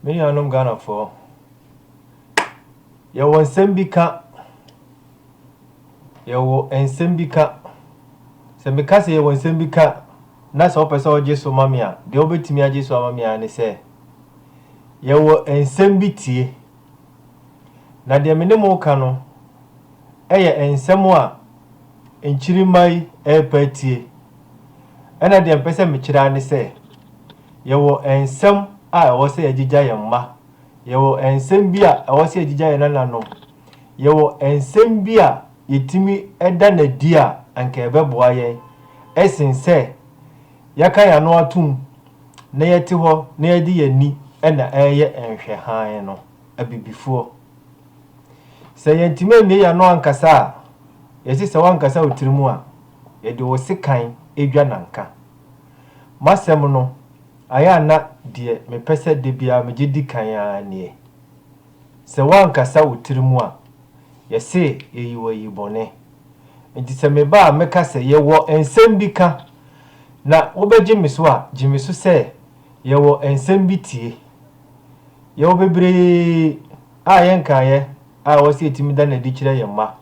Me nuanom Ghanafoɔ, yɛwɔ nsɛm bi ka. Yɛwɔ nsɛm bi ka. Sɛ meka sɛ yɛwɔ nsɛm bi ka na sɛ wopɛ sɛ wogye so ma me a, deɛ wobɛtumi agye so ama me ara ne sɛ yɛwɔ nsɛm bi tie. Na deɛ me ne mo reka no yɛ nsɛm a nkyirimma yi repɛ atie. Ɛna deɛ mpɛ sɛ mekyerɛ ara ne sɛ, yɛwɔ nsɛm a ɛwɔ sɛ yɛgyegya yɛn mma, yɛwɔ nsɛm bi a ɛwɔ sɛ yɛgyegya yɛn nananom, yɛwɔ nsɛm bi a yɛtumi da no adi a anka ɛbɛboa yɛn sen sɛ yɛaka yɛn ano atom na yɛte hɔ na yɛde yɛn ani na ɛreyɛ nhwɛ hann no, abibifoɔ. Sɛ yɛntumi ammue yɛn ano ankasa a, yɛse sɛ woankasa wo tirim a, yɛde wo sekan dwa nanka. M'asɛm no, ayɛ a na deɛ mepɛ sɛ da biara megye di kan ara nie. Sɛ woankasa wo tiri mu a, yɛse yɛyi wo ayi bɔne. Enti sɛ meba a meka sɛ yɛwɔ nsɛm bi ka, na wobɛgye me so a, gye me so sɛ yɛwɔ nsɛm bi tie. Yɛwɔ bebree a yɛnkaeɛ a ɛwɔ sɛ yɛtumi da no adi kyerɛ yɛn mma.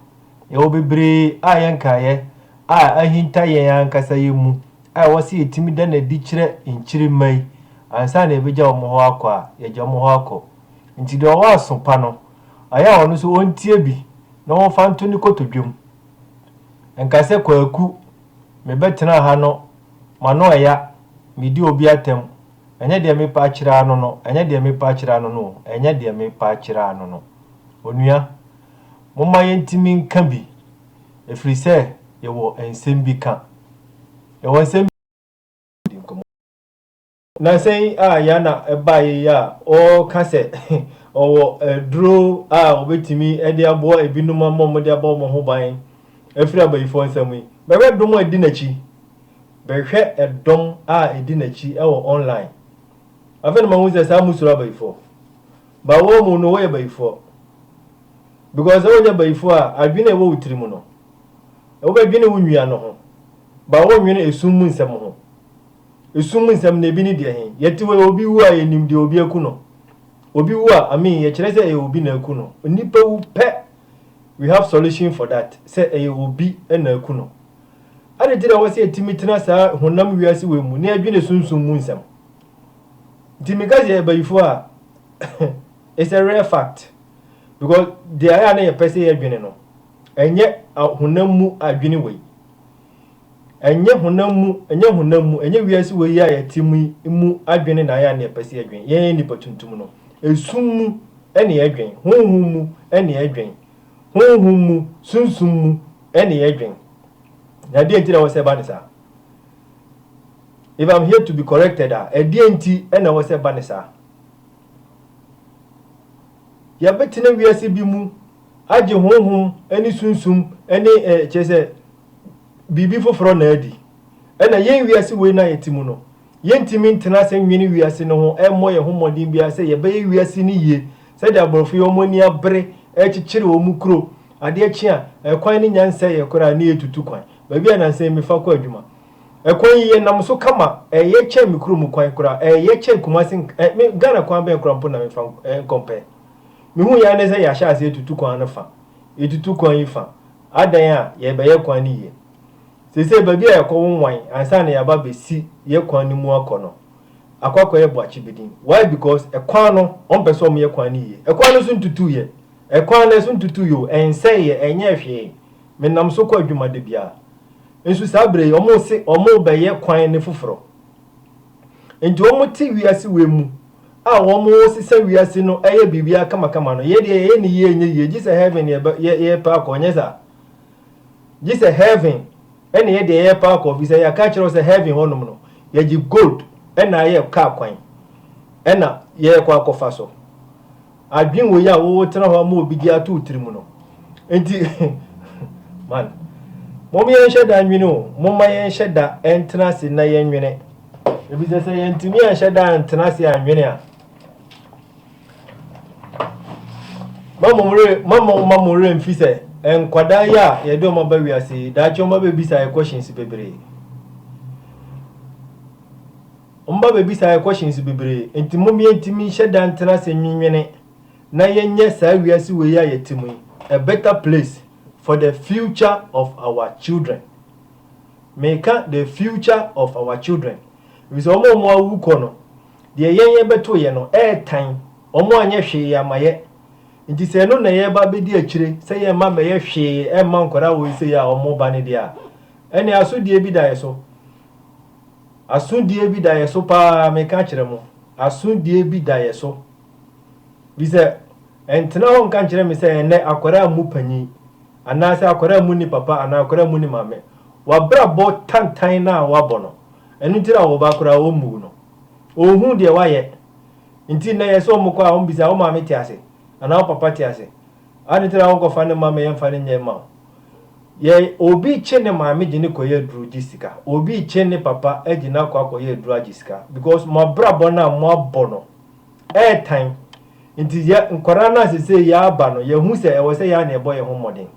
Yɛwɔ bebree a yɛnkaeɛ a ahinta yɛn ankasa yɛn mu a ɛwɔ sɛ yɛtumi da no adi kyerɛ nkyirimma yi ansa na yɛbɛgya wɔn hɔ akɔ a, yɛgya wɔn hɔ akɔ. Ntsi dza ɔwɔ aso pa no, ɔyɛ a ɔno so ontsie bi na wɔmfa nto no kotodwe mu. Nka sɛ Kwaku, mebɛtsenaa ha no, m'ano aya, midii obi atam, ɛnyɛ deɛ mepɛ akyerɛ ano no, ɛnyɛ deɛ mepɛ akyerɛ ano no o, ɛnyɛ deɛ mepɛ akyerɛ ano no. Onua, momma yɛntumi nka bi, ɛfiri sɛ yɛwɔ nsɛm bi ka. Yɛwɔ nsɛm bi ka. Nnansa yi a Yana baeɛ yi a ɔreka sɛ ɔwɔ aduro a ɔbɛtumi de aboa ebinom ama wɔde abɔ wɔn ho ban afiri abayifoɔ nsam yi, bɛhwɛ dɔm a ɛdi n'akyi. Bɛhwɛ ɛdɔm a ɛdi n'akyi wɔ online. Afei na mahu sɛ saa mosuro abayifoɔ. Ba wɔn mu no wɔyɛ bayifoɔ. Because sɛ wɔnyɛ bayifoɔ a, adwene a ɛwɔ wo tiri mu no, wobɛdwene wo nua no ho. Ba wɔnwene esum mu nsɛm ho. Esum mu nsɛm no, ebi ne deɛ he? Yɛte hɔ yi, obi wu a, yenim deɛ obi aku no. Obi wu a, I mean, yɛkyerɛ sɛ ɛyɛ obi na aku no. Nnipa wu pɛ, we have solution for that, sɛ ɛyɛ obi na aku no. Ade nti na ɛwɔ sɛ yɛtumi tena saa honam wiase wei mu na yɛdwene sunsum mu nsɛm? Nti meka sɛ yɛyɛ bayifo a, it's a rare fact. Because deɛ ɛyɛ a na yɛpɛ sɛ yɛdwene no, ɛnyɛ honam mu adwene wei. Ɛnyɛ honam mu, ɛnyɛ honam mu, ɛnyɛ wiase wei a yɛte mu yi mu adwene na ayɛ nea ɛpɛ sɛ yɛdwen. Yɛn nnipa tuntum no, esum mu na yɛdwen, honhom mu na yɛdwen, honhom mu, sunsum mu na yɛdwen. Na ɛdeɛn nti na ɛwɔ sɛ ɛba ne saa? If I'm here to be corrected a, ɛdeɛn nti na ɛwɔ sɛ ɛba ne saa? Yɛbɛtena wiase bi mu. Agye honhom ne sunsum ne ɛ, kyerɛ sɛ, biribi foforɔ na adi. Ɛna yɛn wiase wei no a yɛte mu no, yɛntumi ntena ase nnwene wiase no ho, mmɔ yɛn ho mmɔden biara sɛ yɛbɛyɛ wiase no yie, sɛdeɛ aborɔfo yi, wɔn ani abere, rekyekyere wɔn kuro, adeɛ kye a, ɛkwan no nya nsɛeɛ koraa na yɛretutu kwan, baabi a nansa yi mefa kɔ adwuma, ɛkwan yi yɛnam so kama, ɛyɛ kyɛn me kurom kwan koraa, ɛyɛ kyɛn Kumasi, ɛ, me, Ghana kwan bɛn koraa mpo na mefa nkɔ mpɛn. Mehui ara ne sɛ yɛahyɛ aseɛ atutu kwan no fa, yɛtutu kwan yi fa, adɛn a yɛrebɛyɛ kwan no yie. Seesei baabi a yɛkɔ wo nwan ansa na yɛaba abɛsi yɛ kwan no mu akɔ no akɔ akɔyɛ boakye bidin. Why because ɛkwan no ɔmpɛ sɛ ɔmoyɛ kwan no yie. Ɛkwan no so ntutuiɛ, ɛkwan no ɛso ntutuiɛ o, ɛnsɛeɛ, ɛnyɛɛ hwee, menam so kɔ adwuma da biara. Nso saa berɛ yi ɔmose ɔmobɛyɛ kwan no foforɔ. Nti wɔte wiase wei mu a wɔresesa wiase no ɛyɛ biribiara kamakama no yɛ deɛ yɛyɛ ne yie nyɛ yie gye sɛ heaven ne yɛbɛ yɛ yɛpɛ akɔ nyɛ saa gye sɛ heaven ɛne yɛ deɛ yɛpɛ akɔ fi sɛ yɛaka kyerɛ sɛ heaven hɔnom no yɛgye gold ɛna ayɛ kaa kwan ɛna yɛrekɔ akɔfa so Adwen wei a wo tena hɔ ama obi de ato wo tiri mu no nti man mom yɛn hyɛ da nwene o momma yɛn hyɛ da ɛntena ase na yɛn nwene ebi sɛ sɛ yɛn tumi ɛnhyɛ da ɛntena ase anwene a mama mo re mama mama mo re mfi sɛ nkwadaa yi a yɛde wɔn aba wiase yi daakye wɔn abɛbisa yɛ questions bebree Wɔn ba bɛbisa yɛn questions bebree, enti mom yɛntumi nhyɛ da ntena ase nnwennwene na yɛnyɛ saa wiase wei a yɛte mu yi a better place for the future of our children. Meka the future of our children efisɛ wɔn a wɔawu kɔ no, deɛ yɛn yɛbɛtoeɛ no ɛretan, wɔanyɛ hwee amma yɛ. Enti sɛ ɛno na yɛreba abɛdi akyire sɛ yɛremma mmɛyɛ hwee mma nkwadaa wei sei a wɔreba no deɛ a, ɛnneɛ asodie bi da yɛn so. Asodie bi da yɛ so paa, meka kyerɛ mo, asodie bi da yɛ so. Bi sɛ, ɛntena hɔ nka nkyerɛ me sɛ ɛnnɛ akwadaa mmu panin, anaasɛ akwadaa mmu ne papa anaa akwadaa mmu ne maame. W'abrabɔ tantan no a woabɔ no, ɛno nti na wo ba koraa ɔmmuu no. Ɔnhuu deɛ woayɛ. Nti nnɛ yɛ sɛ wɔkɔ a wɔbisa, wo maame te ase? Anaa wo papa te ase? Adɛn nti na wonkɔfa no mma me yɛmfa no nyɛ mma wo? Yɛn, obi rekye ne maame gye no kɔyɛ aduru gye sika. Obi rekye ne papa agye no akɔ akɔyɛ aduru agye sika because mo abrabɔ no a mo abɔ no ɛretan. Nti yɛ nkwadaa no a sesei yɛaba no yɛhu sɛ ɛwɔ sɛ yɛn na yɛbɔ yɛn ho mmɔden.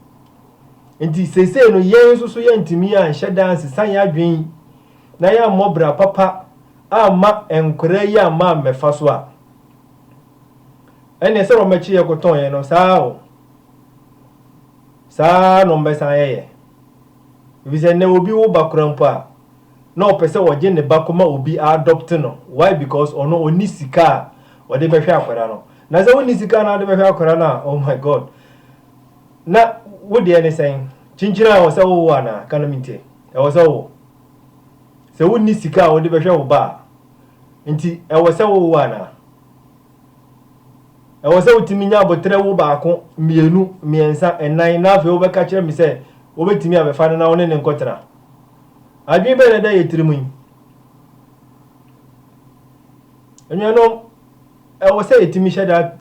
Nti sesei no yɛn nso so yɛntumi anhyɛ da ansesa yɛn adwene na yɛammɔ bra papa amma nkwadaa yi amma ammɛfa so a ɛnneɛ sɛ wɔbɛkye yɛn kɔtɔn yɛn no saa o. Saa ara na wɔbɛsan ayɛ yɛn. Efisɛ nnɛ obi wo ba koraa mpo a, na ɔpɛ sɛ ɔgye ne ba kɔma obi adɔpte no. Why? Because ɔno ɔnni sika a ɔde bɛhwɛ akwadaa no. Na sɛ wonni sika na wode bɛhwɛ akwadaa no a, oh my God, na wo deɛ ne sɛn? Kyinkyin a ɛwɔ sɛ wowo anaa? Ka na mentie. Ɛwɔ sɛ wowo. Sɛ wonni sika a wode bɛhwɛ wo ba a, nti ɛwɔ sɛ wowo anaa? Ɛwɔ sɛ wotumi nya aboterɛ wo baako, mmienu, mmiɛnsa, nnan, na afei wobɛka kyerɛ me sɛ wobɛtumi abɛfa no na wo ne no nkɔtena. Adwene bɛn na ɛda yɛn tirim yi? Anuanom, ɛwɔ sɛ yɛtumi hyɛ da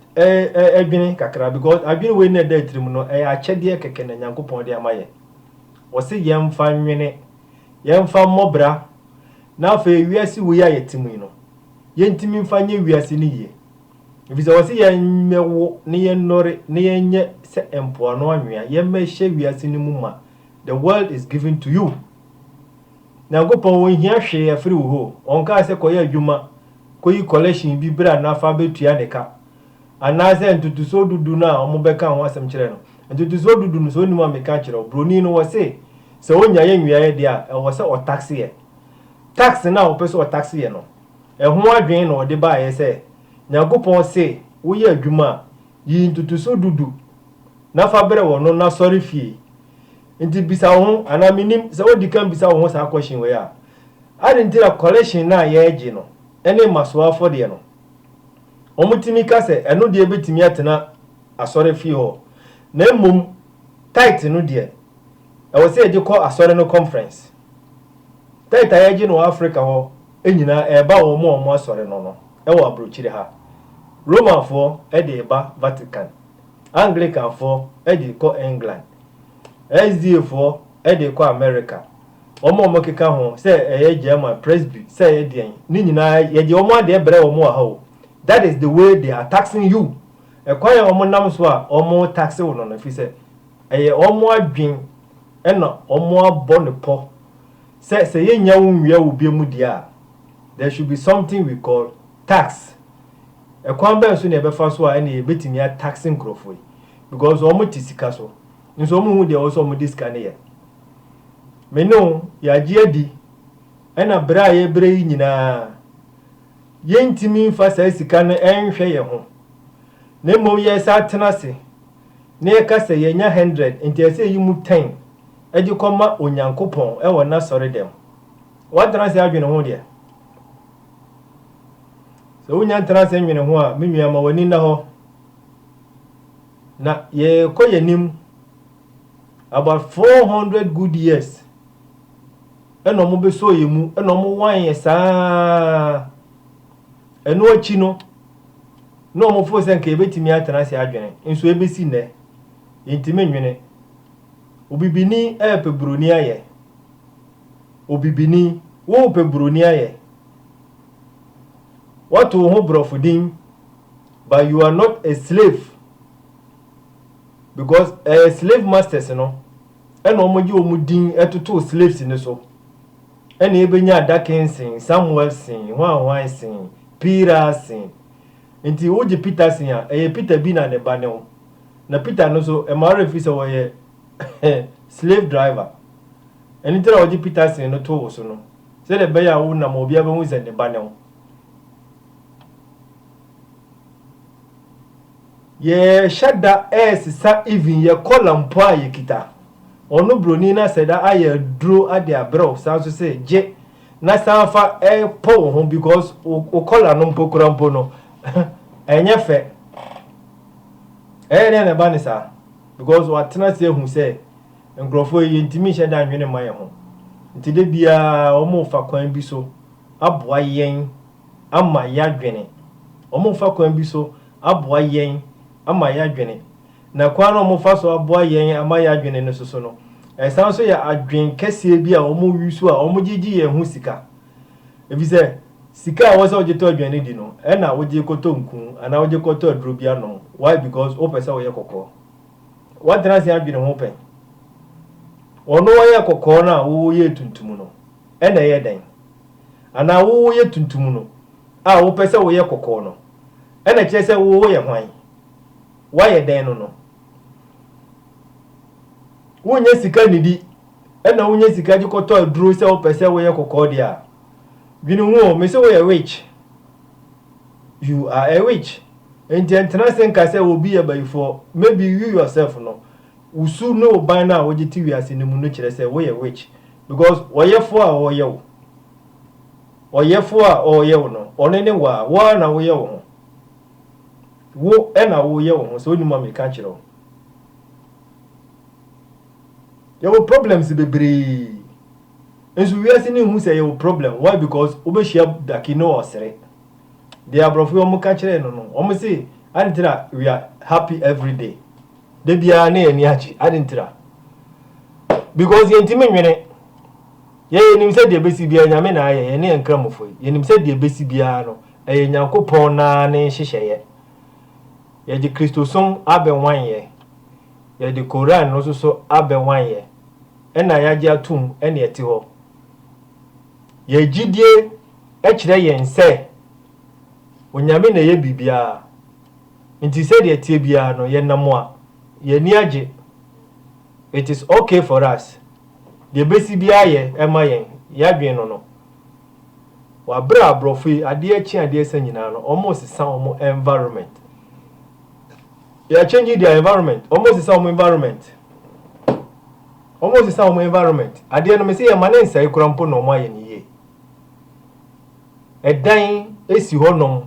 dwene kakra because adwene wei na ɛda tirim no, ɛyɛ akyɛdeɛ kɛkɛ na Nyankopɔn de ama yɛn. Ɔse yɛmfa nwene, yɛmfa mmɔ bra, na afei wiase wei a yɛte mu yi no, yɛntumi mfa nyɛ wiase no yie. Ɛfiri sɛ wɔse yɛmmɛwo na yɛnnɔre na yɛnyɛ sɛ mpoano anwea, yɛmmɛhyɛ wiase no mu ma, the world is given to you. Nyankopɔn ɔnhia hwee afiri wo hɔ o, ɔnkaa sɛ kɔyɛ adwuma, kɔyi collection bi bra na fa bɛtua ne ka. Anaasɛ ntotosoɔ dudu no a wɔbɛka ho asɛm kyerɛ no, ntotosoɔ dudu no sɛ wonim a meka kyerɛ wo, broni no wɔse sɛ ɔnyaeɛ nweaeɛ deɛ a ɛwɔ sɛ ɔtaxeɛ. Taxi no a ɔpɛ sɛ ɔtaxi yɛ no, ɛho adwene na ɔde baeɛ sɛ, Nyankopɔn se woyɛ adwuma a, yi ntotoso du du na fa brɛ wɔ no na sɔre fie. Nti bisa wo ho, anaa mennim, sɛ wodi kan bisa wo ho saa question wei a, Ade nti na collection no a yɛregye no ne mmasoɔ afɔdeɛ no, wɔtumi ka sɛ ɛno deɛ bɛtumi atena asɔrefie hɔ, na mmom tithe no deɛ, Ɛwɔ sɛ yɛgye kɔ Asɔre no kɔnferɛnse. Tait a yɛgye no wɔ Afrika hɔ nyinaa reba wɔn a wɔn asɔre no no wɔ aburokyire ha. Romanfoɔ de reba Vatican. Anglikanfoɔ de rekɔ England. SDAfoɔ de rekɔ Amerika. Wɔn a wɔkeka ho sɛ ɛyɛ German Presby sɛ ɛyɛ deɛn no nyinaa yɛgye wɔn adeɛ brɛ wɔn wɔ ha o. That is the way they are taxing you. Ɛkwan a wɔnam so a wɔretaxe wo no no, ɛfiri sɛ Ɛyɛ wɔn adwene na wɔabɔ no pɔ sɛ sɛ yɛnnya wo nwia wo bia mu deɛ a, there should be something we call tax. Ɛkwan bɛn so na yɛbɛfa so a ɛnneɛ yɛbɛtumi a taxe nkurɔfoɔ yi? Because wɔte sika so, nso wɔnhu deɛ ɛwɔ sɛ wɔde sika no yɛ. Me ne wo, yɛagye adi, ɛna berɛ a yɛbrɛ yi nyinaa, yɛntumi mfa saa sika no nhwɛ yɛn ho, na mmom yɛsan tena ase na yɛka sɛ yɛanya hundred ntease yi mu ten de kɔma Onyankopɔn wɔ N'asɔredɛm. Woatena ase adwene ho deɛ? Sɛ wonnya ntena ase nnwene ho a, me nua, ma w'ani nna hɔ, na yɛrekɔ yɛn anim. About four hundred good years ɛna wɔbɛsɔɔ yɛn mu, ɛna wɔwan yɛn saa ara. Ɛno akyi no, na wɔfoo sɛ anka yɛbɛtumi atena ase adwene, nso ɛbɛsi nnɛ, yɛntumi nnwene. Obibini repɛ buroni ayɛ. Obibini, worepɛ buroni ayɛ. Woato wo ho borɔfo din, but you are not a slave. Because ɛyɛ slave masters no ɛna wɔgye wɔn din totoo slaves no so. Ɛne ebenya adake nsen, Samuel sen, hwanhwan sen, Piira sen. Enti wogye Peter sen a, ɛyɛ Peter bi na ne ba ne ho. Na Peter no nso, ɛma werɛ fi sɛ ɔyɛ slave driver. Ɛno nti na wɔgye Peter sen no too wo so no, sɛdeɛ ɛbɛyɛ a wonam a obiara bɛhu sɛ ne ba ne ho. Yɛɛhyɛ da ɛɛsesa even yɛ kɔla mpo a yɛkita. Ɔno broni no asɛ da ayɛ aduro ade abrɛ wo saa nso sɛ gye na san fa pɔ wo ho because wo kɔla no mpo kura mpo no ɛnyɛ fɛ. Ɛyɛ dɛn na ɛba ne saa? Because watena ase ahu sɛ nkurɔfoɔ yi yɛntumi nhyɛ da nnwene mma yɛn ho nti da biara wɔfa kwan bi so aboa yɛn. ama yɛadwene, wɔrefa kwan bi so aboa yɛn ama yɛadwene. Na kwan no a wɔrefa so aboa yɛn ama yɛadwene no soso no, ɛsan nso yɛ adwene kɛseɛ bi a wɔyi so a wɔde gye yɛn ho sika. Efisɛ sika a ɛwɔ sɛ wogye tɔ aduane no di no, ɛna wogye kɔtɔ nku anaa wogye kɔtɔ aduro bi anom. Why? Because wopɛ sɛ woyɛ kɔkɔɔ. Woatena ase adwene ho pɛn? Wɔn a wɔyɛ kɔkɔɔ no a woyɛ tuntum no, ɛna ɛyɛ dɛn? Anaa wo woyɛ tuntum no a wopɛ sɛ woyɛ kɔkɔɔ no, ɛna ɛkyerɛ sɛ wo woyɛ hwan? Woayɛ dɛn no no? Wonnya sika nnidi ɛna wonya sika de kɔtɔ aduro sɛ wopɛ sɛ woyɛ kɔkɔɔ deɛ a, dwene ho o, mese woyɛ witch. You are a witch. Enti ɛntena ase nka sɛ obi yɛ bayifoɔ, maybe you yourself no, wo su ne wo ban no a wogye te wiase no mu no kyerɛ sɛ woyɛ witch. Because ɔyɛfoɔ a ɔreyɛ wo, ɔyɛfoɔ a ɔreyɛ wo no, ɔno ne wo a, wo ara na woyɛ wo ho. Wo na woyɛ wo ho, sɛ wonim a meka nkyerɛ wo. Yɛwɔ problems bebree, nso wiase no nhu sɛ yɛwɔ problem, why because wobɛhyia daki ne ɔsere. Deɛ aborɔfo yi wɔka kyerɛɛ no no, wɔn se, ade nti na we are happy everyday. Da biara na yɛn ani agye. Ade ntira. Because yɛntumi nwene. Yɛn yɛnim sɛ deɛ ɛbɛsi biara Nyame na ayɛ, yɛne yɛn nkramofo yi. Yɛnim sɛ deɛ ɛbɛsi biara no, ɛyɛ Nyankopɔn no ara ne nhyehyɛeɛ. Yɛde Kristosom abɛwan yɛn. Yɛde Koran no nso so abɛwan yɛn. Ɛna yɛagye atom ɛne ɛte hɔ. Yɛn gyidie kyerɛ yɛn sɛ Onyame na ɛyɛ biribiara. Nti sɛdeɛ ɛteɛ biara no yɛnam a yɛn ani agye, it is ok for us, deɛ ɛbɛsi biara yɛ ɛma yɛn, yɛadwene no no. Wɔ berɛ a aborɔfo yi adeɛ rekye adeɛ resa nyinaa no wɔresesa wɔn environment. They are changing their environment, wɔresesa wɔn environment. Wɔresesa wɔn environment. Adeɛ no mese yɛma ne nsɛe koraa mpo na wɔayɛ ne yie. Ɛdan si hɔnom.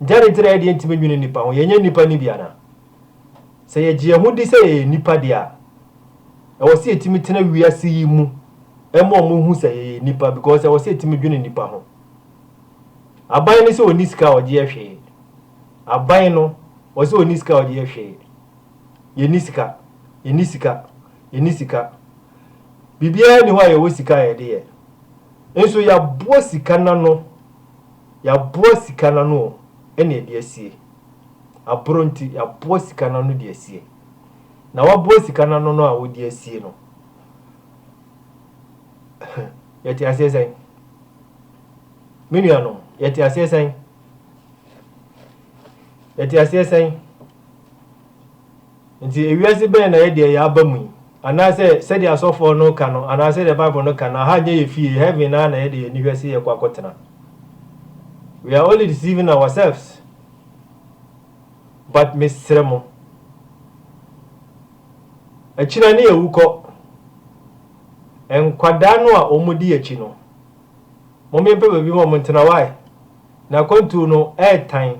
Dɛn nti na yɛde yentumi nnwene nnipa ho? Yɛnyɛ nnipa no bi anaa? Sɛ yegye yɛn ho di sɛ yɛyɛ nnipa de a, ɛwɔ sɛ yetumi tena wiase yi mu ma wɔhu sɛ yɛyɛ nnipa because ɛwɔ sɛ yetumi dwene nnipa ho. Aban no sɛ onni sika a ɔgye yɛ hwee. Aban no, wɔ sɛ onni sika a ɔgye yɛ hwee. Yenni sika, yenni sika, yenni sika. Biribiara nni hɔ a yɛwɔ sika a yɛde yɛ. Nso yɛaboa sika no ano. Yɛaboa sika no ano o, ɛna ɛde asie. Aboro nti, yɛaboa sika no ano de asie. Na wɔaboa sika no ano no a wɔde asie no, yɛte aseɛ sɛn? Me nuanom, yɛte aseɛ sɛn? Yɛte aseɛ sɛn? Enti, wiase bɛn na yɛdeɛ yɛaba mu yi? Anaasɛ, sɛdeɛ asɔfoɔ no reka no, anaa sɛdeɛ Bible no ka no, aha nyɛ yɛn fie, heaven ara na yɛde yɛn ani hwɛ sɛ yɛkɔ akɔtena? We are only deceiving ourselves. But mesrɛ mo, akyire ne yɛwu kɔ. Nkwadaa no a wɔdi akyi no, mommempɛ baabi ma wɔntena, why? N'akwantuo no ɛretan.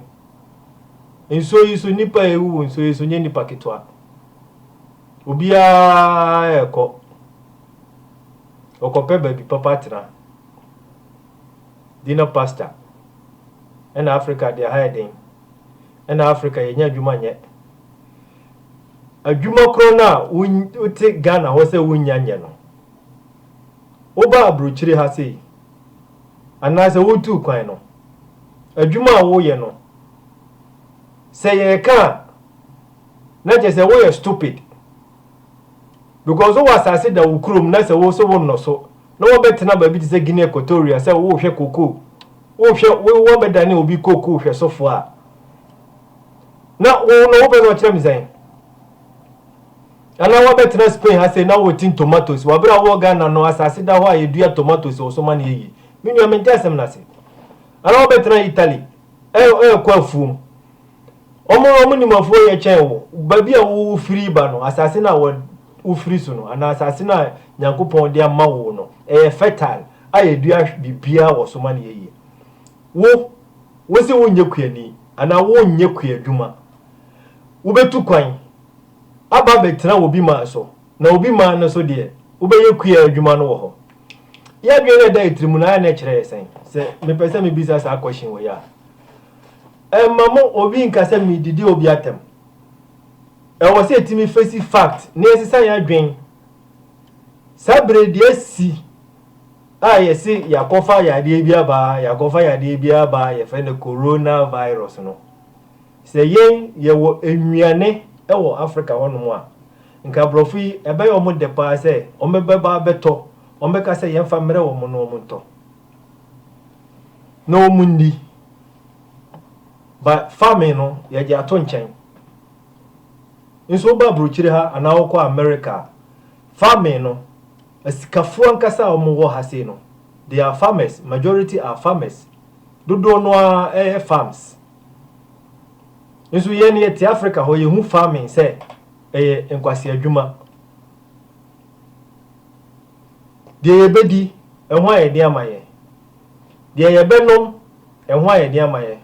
Nsuo yi so nnipa a ɛrewuwu nsuo yi so nyɛ nnipa ketewa. Obiara rekɔ. Ɔkɔpɛ baabi papa atena. Dina Pastor. Ɛna Africa deɛ ha yɛ den. Ɛna Africa yɛnya adwuma nyɛ. Adwuma korɔ no a wote Ghana hɔ sɛ wonnya nyɛ no. Woba aburokyire ha sei. anaasɛ wotuu kwan no. Adwuma a woyɛ no, sɛ yɛreka a, na kyerɛ sɛ woyɛ stupid because wowɔ asase da wo kurom na sɛ wo so wonnɔ so na wɔbɛtena baabi te sɛ Guinea Equatorial sɛ wohwɛ kokoo, wohwɛ wo wɔbɛdane obi kokoo hwɛsofoɔ a, na wo no wopɛ sɛ ɔkyerɛ me sɛn? Ana wabɛtena Spain ha sei na wotn tomatoes wɔ bere a wowɔ Ghana no asase da hɔ a yedua tomatoes wɔ so ma no yɛ yie? Me nua mente asɛm no ase. Ana wabɛtena Italy ɛɛ ɛɛkɔ afuom? Wɔn wɔn nim afuo yɛ kyɛn wo. Baabi a wo wo firi ba no asase no a wɔ wo firi so no anaa asase no a Nyankopɔn de ama wo no ɛyɛ fertile a yedua biribiara wɔ so ma no yɛ yie. Wo wose wonyɛ kuani anaa wonyɛ kuadwuma wobɛtu kwan. aba abɛtena obi man so, na obi man no so deɛ, wobɛyɛ kuaa adwuma no wɔ hɔ. Yɛ adwene no a ɛda yɛ tiri mu no ara na ɛkyerɛ yɛ sɛn? Sɛ mepɛ sɛ mebisa saa question wei a, ɛmma mo obi nka sɛ meredidi obi atɛm. Ɛwɔ sɛ yɛtumi fesi fact na yɛsesa yɛn adwene. Saa berɛ yi deɛ asi a yɛse yɛakɔfa yadeɛ bi aba, yɛakɔfa yadeɛ bi aba, yɛfrɛ no coronavirus no, Sɛ yɛn yɛwɔ nnuane wɔ Africa hɔ nom a, nka aborɔfo yi ɛbɛyɛ wɔn dɛ paa sɛ wɔn bɛba abɛtɔ, wɔn bɛka sɛ yɛn fa mmerɛ wɔn na wɔn ntɔ na wɔn nni. But farming no yɛgye ato nkyɛn. Nso wo ba aburokyire ha anaa wo kɔ America a, farming no asikafoɔ ankasa a wɔn wɔ ha sei no, they are farmers, majority are farmers. Dodoɔ no ara ɛyɛ farms. Nso yɛn yɛte Africa hɔ yɛhu farming sɛ ɛyɛ nkwasi adwuma. Deɛ yɛbɛdi ɛho a yɛde ama yɛn. Deɛ yɛbɛnom ɛho a yɛde ama yɛn.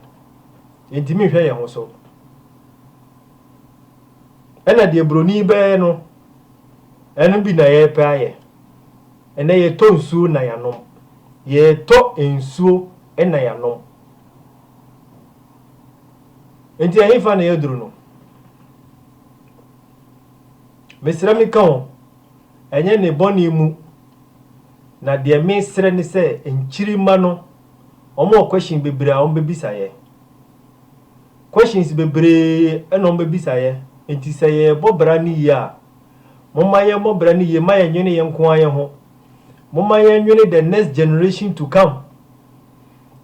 Yɛntumi nhwɛ yɛn ho so. Ɛna deɛ buroni bɛyɛ no ɛno bi na yɛrepɛ ayɛ. Ɛnɛ yɛtɔ nsuo na yɛanom. Yɛtɔ nsuo na yɛanom. Enti ɛhefa na yɛaduru no? Mesrɛ meka o, ɛnyɛ ne bɔne mu, na deɛ mesrɛ ne sɛ nkyirimma no wɔwɔ question bebree a wɔbɛbisa yɛ. Questions bebree na wɔbɛbisa yɛ, enti sɛ yɛrebɔ bra no yie a, momma yɛmmɔ bra no yie ma yɛnwene yɛn nko ara yɛn ho. Momma yɛnwene the next generation to come.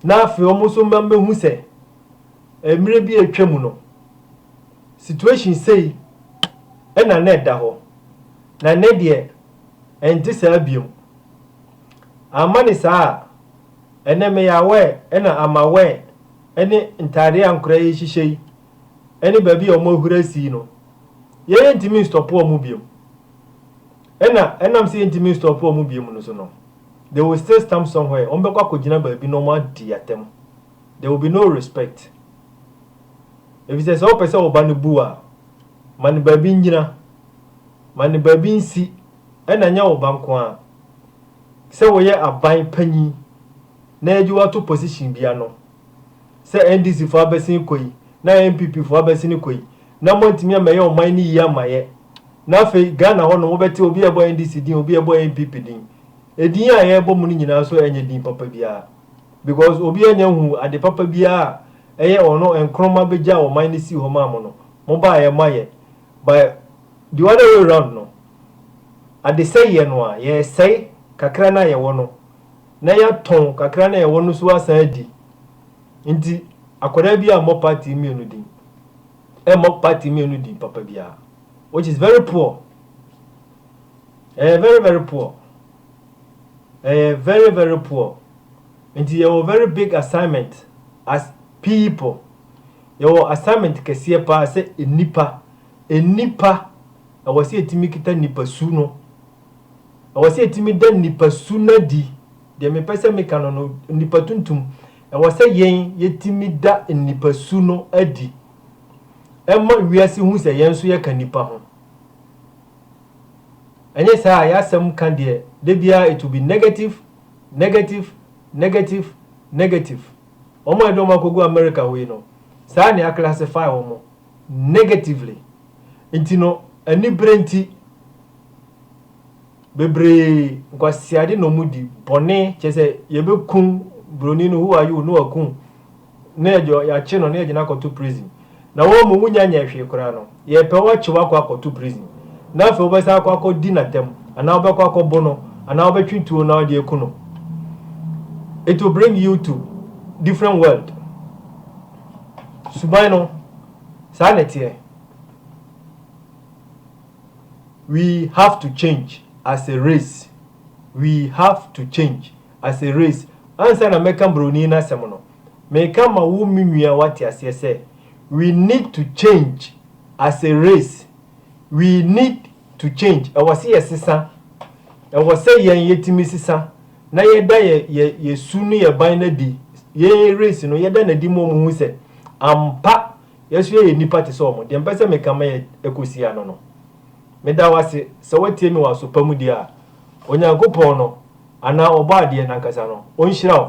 Na afei wɔn nso ma mehu sɛ mmerɛ bi a atwa mu no situation sei na na ɛda hɔ na nnɛ deɛ ɛnte saa biom. Amma ne saa a ɛnnɛ meyɛ aware na I'm aware ne ntaadeɛ a nkoraa yi hyehyɛ yi ne baabi a wɔn ahura asi yi no yɛyɛ ntumi nstɔpo wɔn biom. Ɛna ɛnam sɛ yɛntumi nstɔpo wɔn biom no so no, They will still stamp somewhere, wɔbɛkɔ akɔgyina baabi na wɔadi atɛm. There will be no respect. Efisɛ sɛ wopɛ sɛ wo ba no bu wo a, ma no baabi nnyina, ma no baabi nsi, ɛnna ɛnyɛ wo ba nko ara. Sɛ woyɛ aban panyin na yɛagye wo ato position bi ano, sɛ NDC fo abɛsen kɔ yi na NPP fo abɛsene kɔ yi na moantumi ammɛyɛ ɔman no yie amma yɛ na afei Ghana hɔ nom wobɛte obi a ɛbɔ NDC din obi a ɛbɔ NPP din ɛdin a yɛrebɔ mu no nyinaa nso ɛnyɛ din papa biara because obiara nya nhuu ade papa biara a ɛyɛ ɔno Nkrumah bɛgyaa ɔman no sii hɔ maa mo no mobaeɛ moayɛ by the other way round no adesɛeɛ no a yɛresɛe kakra no a yɛwɔ no na yɛatɔn kakra no a yɛwɔ no nso asan adi. Enti akwadaa bi ammɔ party mmienu din, ɛmmɔ party mmienu din papa biara, which is very poor. Ɛyɛ very very poor. Ɛyɛ very very poor. Enti yɛwɔ very big assignment as people. Yɛwɔ assignment kɛseɛ paa sɛ nnipa. Nnipa, ɛwɔ sɛ yɛtumi kita nipasu no. Ɛwɔ sɛ yɛtumi da nnipa su no adi. Deɛ mepɛ sɛ meka no no, nnipa tuntum. Ɛwɔ sɛ yɛn yɛtumi da nnipa su no adi. Ɛma wiase hu sɛ yɛn nso yɛka nnipa ho. Ɛnyɛ saa a, yɛasɛm ka deɛ, da biara it will be negative, negative, negative, negative. Wɔn a yɛde wɔn akɔgu America hɔ yi no, saa na yɛaclassify wɔn, negatively. Nti no, anibere nti, bebree nkwaseade na wɔn di bɔne kyerɛ sɛ yɛbɛkum broni no who are you na wakum na yɛakye no na yɛgye no akɔto prison na wɔn mu wonya nyɛ hwee koraa no yɛpɛ wɔkye wakɔ akɔto prison na afei wɔbɛsan akɔ akɔ di n'atam anaa wɔbɛkɔ akɔ bo no anaa wɔbɛtwe tuo na wɔde aku no it will bring you to different world suban no saa na ɛteɛ We have to change as a race We have to change as a race Ansa na mɛka broni no asɛm no, meka ma wo me nua woate aseɛ sɛ We need to change as a race We need to change Ɛwɔ sɛ yɛ sesa Ɛwɔ sɛ yɛn yɛtumi sesa na yɛda yɛ yɛ yɛ su ne yɛ ban no adi Yɛn race no yɛda no adi ma wɔhu sɛ ampa Yɛn so yɛyɛ nnipa te sɛ wɔn. Deɛ mepɛ sɛ meka ma yɛ kɔsi ano no, meda wo ase sɛ woatie me wɔ aso pa mu deɛ a, Onyankopɔn no, anaa Ɔbɔadeɛ no ankasa no, ɔnhyira wo.